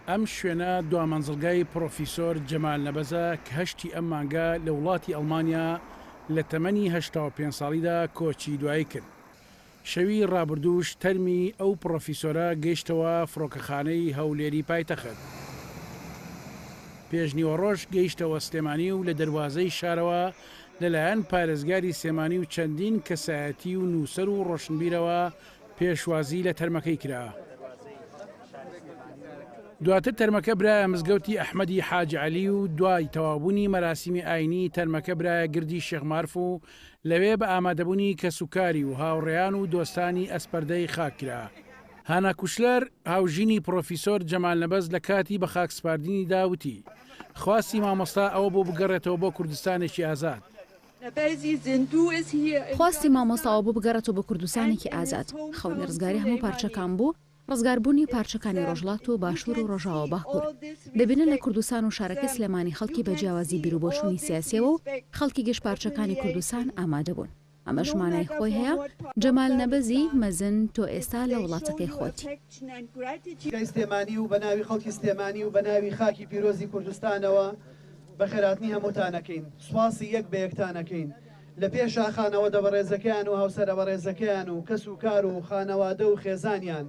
ئەم شوێنە دوا مەنزڵگای پڕۆفیسۆر جەمال نەبەزە کە هەشتی ئەم مانگە لە وڵاتی ئەڵمانیا لە تەمەنی هەشتا و پێنج ساڵیدا کۆچی دوایی کرد. شەوی ڕابردووش تەرمی ئەو پڕۆفیسۆرە گەیشتەوە فڕۆکەخانەی هەولێری پایتەخت. پێشنیوەڕۆش گەیشتەوە سلێمانی و لە دەروازەی شارەوە لەلایەن پارێزگاری سلێمانی و چەندین کەسایەتی و نووسەر و ڕۆشنبیرەوە پێشوازی لە تەرمەکەی کرا. دواتر تەرمەکە برایە مزگەوتی ئەحمەدی حاج عەلی و دوای تەوابوونی مەراسیمی ئاینی تەرمەکە برایە گردی شێخ مارف و لەوێ بە ئامادەبوونی کەسوکاری و هاوڕێیان و دۆستانی ئەسپەردەی خاک کرا. هانا کوشلەر، هاوژینی پڕۆفیسۆر جەمال نەبەز لە کاتی بە خاک سپاردنیدا وتی، خواستی مامۆستا ئەوە بوو بگەڕێتەوە بۆ کوردستانێکی ئازاد. خواستی مامۆستاوە بوو بگەڕێتەوە بۆ کوردستانێکی ئازاد. خەونی ڕزگاری هەموو پارچەکان بوو، ڕزگاربوونی پارچەکانی ڕۆژهەڵات و باشوور و ڕۆژاوا و باکوور. دەبینن لە کوردستان و شارەکەی سلێمانی خەڵکی بە جیاوازی بیروبۆچوونی سیاسییەوە و خەڵکی گشت پارچەکانی کوردستان ئامادە بوون. ئەمەش مانای خۆی هەیە. جەمال نەبەزی، مەزن، تۆ ئێستا لە وڵاتەکەی خۆتی. گەی سلێمانی و بە ناوی خەڵکی سلێمانی و بە ناوی خاکی پیرۆزی کوردستانەوە بەخێرهاتنی هەمووتان ئەکەین، سوپاسی یەک بە یەکتان ئەکەین لە پێ شاخانەوەدە بەڕێزەکەیان و هاوسەرە بەڕێزەکەیان و کەس و کار و خانەوادە و خێزانیان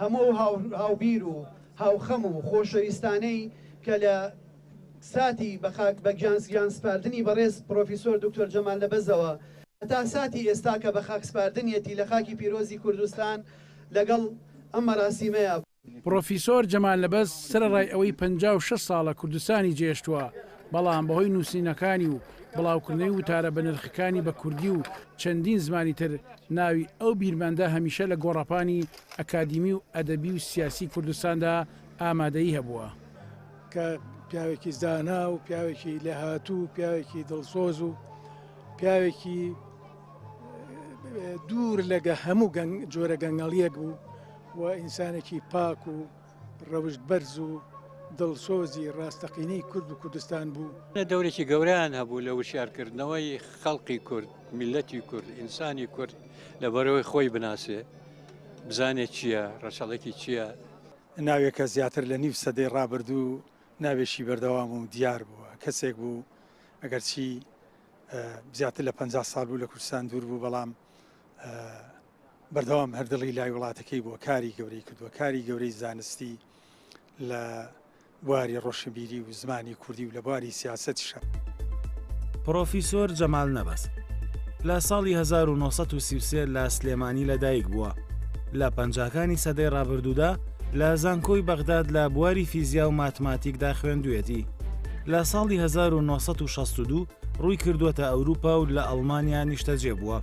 هەموو ئەو هاوبیر و هاوخەم و خۆشەویستانەی کە لە ساتی بە خاک بە گیان سپاردنی بەڕێز پڕۆفیسۆر دوکتۆر جەمال نەبەزەوە هەتا ساتی ئێستا کە بە خاک سپاردنیەتی لە خاکی پیرۆزی کوردستان لەگەڵ ئەم مەراسیمەیە پڕۆفیسۆر جەمال نەبەز سەرەڕای ئەوەی پەنجا و شەش ساڵە کوردستانی جێێشتووە، بەڵام بەهۆی نووسینەکانی و بڵاوکردنەوەی وتارە بەنرخەکانی بە کوردی و چەندین زمانی تر، ناوی ئەو بیرمەندە هەمیشە لە گۆڕەپانی ئەکادیمی و ئەدەبی و سیاسی کوردستاندا ئامادەیی هەبووە. کە پیاوێکی زانا و پیاوێکی لێهاتوو و پیاوێکی دڵسۆز و پیاوێکی دوور لە هەموو جۆرە گەنگەڵییەک بوو، و ئینسانێکی پاک و ڕەوشت بەرز و دڵسۆزی ڕاستەقینەی کورد و کوردستان بوو. دەورێکی گەورەیان هەبوو لە وشیارکردنەوەی خەڵقی کورد، میللەتی کورد، ئینسانی کورد لەبەرەوەی خۆی بناسێ، بزانێ چییە، ڕەچەڵەکی چییە. ناوێکە زیاتر لە نیو سەدەی ڕابردوو ناوێکی بەردەوام و دیار بووە. کەسێک بوو ئەگەرچی زیاتر لە پەنجا ساڵ بوو لە کوردستان دوور بوو، بەڵام. بەردەوام هەر دڵی لای وڵاتەکەی بووە کاری گەورەی کردووە کاری گەورەی زانستی لە بواری ڕۆشنبیری و زمانی کوردی و لە بواری سیاسەتی شە. پڕۆفیسۆر جەمال نەبەز لە ساڵی هەزار و نۆ سەد و سی و سێ لە سلێمانی لەدایک بووە، لە پەنجاکانی سەدەی ڕابردوودا لە زانکۆی بەغداد لە بواری فیزیا و ماتماتیکدا خوێندوویەتی، لە ساڵی هەزار و نۆ سەد و شەست و دوو ڕووی کردووەتە ئەوروپا و لە ئەڵمانیا نیشتەجێ بووە.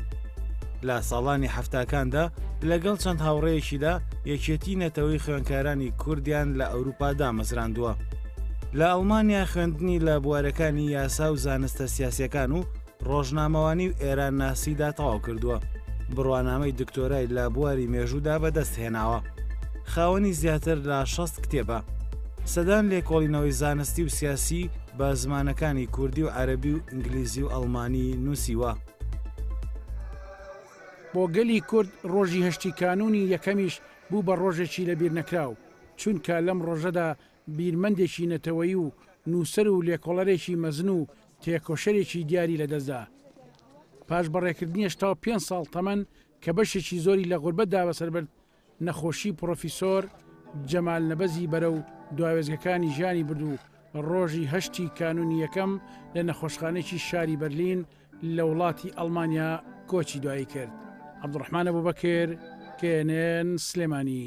لە ساڵانی حەفتاکاندا لەگەڵ چەند هاوڕێیەکیدا یەکێتی نەتەوەی خوێنکارانی کوردیان لە ئەوروپا دامەزراندووە. لە ئەڵمانیا خوێندنی لە بوارەکانی یاسا و زانستە سیاسەکان و ڕۆژنامەوانی و ئێران ناسیدا تەواو کردووە بڕوانامەی دکتۆرای لە بواری مێژوودا بەدەست هێناوە خاوەنی زیاتر لە 16 کتێبە سەدان لێکۆڵینەوەی زانستی و سیاسی بە زمانەکانی کوردی و عەرەبی و ئینگلیزی و ئەڵمانی نووسیوە. بۆ گەلی کورد ڕۆژی هەشتی کانوونی یەکەمیش بوو بە ڕۆژێکی لەبیرنەکراو، چونکە لەم ڕۆژەدا بیرمەندێکی نەتەوەیی و نووسەر و لێکۆڵەرێکی مەزن و تێکۆشەرێکی دیاری لەدەستدا. پاش بەڕێکردنی هەشتا و پێنج ساڵ تەمەن کە بەشێکی زۆری لە غوربەتدا بەسەربرد، نەخۆشی پڕۆفیسۆر جەمال نەبەزی بەرەو دواوێستگەکانی ژیانی برد و ڕۆژی هەشتی کانوونی یەکەم لە نەخۆشخانەیەکی شاری بەرلین لە وڵاتی ئەڵمانیا کۆچی دوایی کرد. عەبدوڕەحمان ئەبوبەکر، knn، سلێمانی.